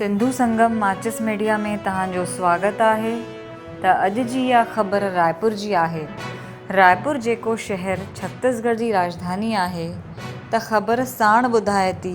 سنڌو سنگم ماچس ميڊيا ۾ توهان جو سواگت آهي ته اڄ جي اها خبر رائپور جي آهي رائپور جيڪو شهر ڇتيس گڙھ جي راڄڌاني آهي ته خبر ساڻ ٻڌائي ٿي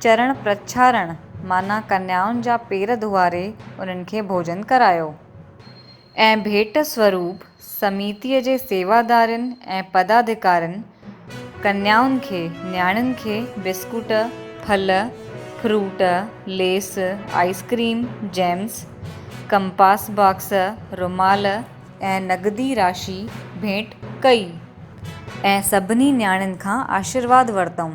چرڻ پرڇارڻ معنيٰ ڪنيائن جا پير ڌوئاري انهن کي ڀوڄن ڪرايو ۽ ڀيٽ سوروپ سميتيء جي سيوادارين ۽ پدادڪارين ڪنيائن کي، نياڻين کي، بسڪوٽ، ڦل، فروٽ، ليس، ice cream, gems, compass box, رومال ۽ نقدي راشي ڀيٽ ڪئي ۽ سڀني نياڻين کان آشيرواد ورتائون.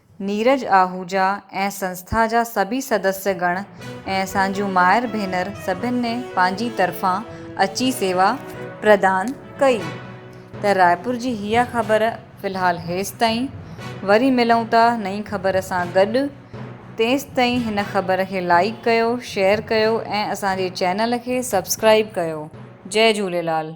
نيرج آهوجا ۽ سنسٿا جا سڀئي سدسيه گڻ ۽ اسان جون مائر ڀينر سڀن ني پنهنجي طرفان اچي سيوا پردان ڪئي ته رائپور جي هيء خبر في الحال هيستائين وري ملون ٿا نئين خبر سان گڏ تيستائين هن خبر کي لائيڪ ڪيو شيئر ڪيو ۽ اسان جي چينل کي سبسڪرائيب ڪيو جئي جهوليلال.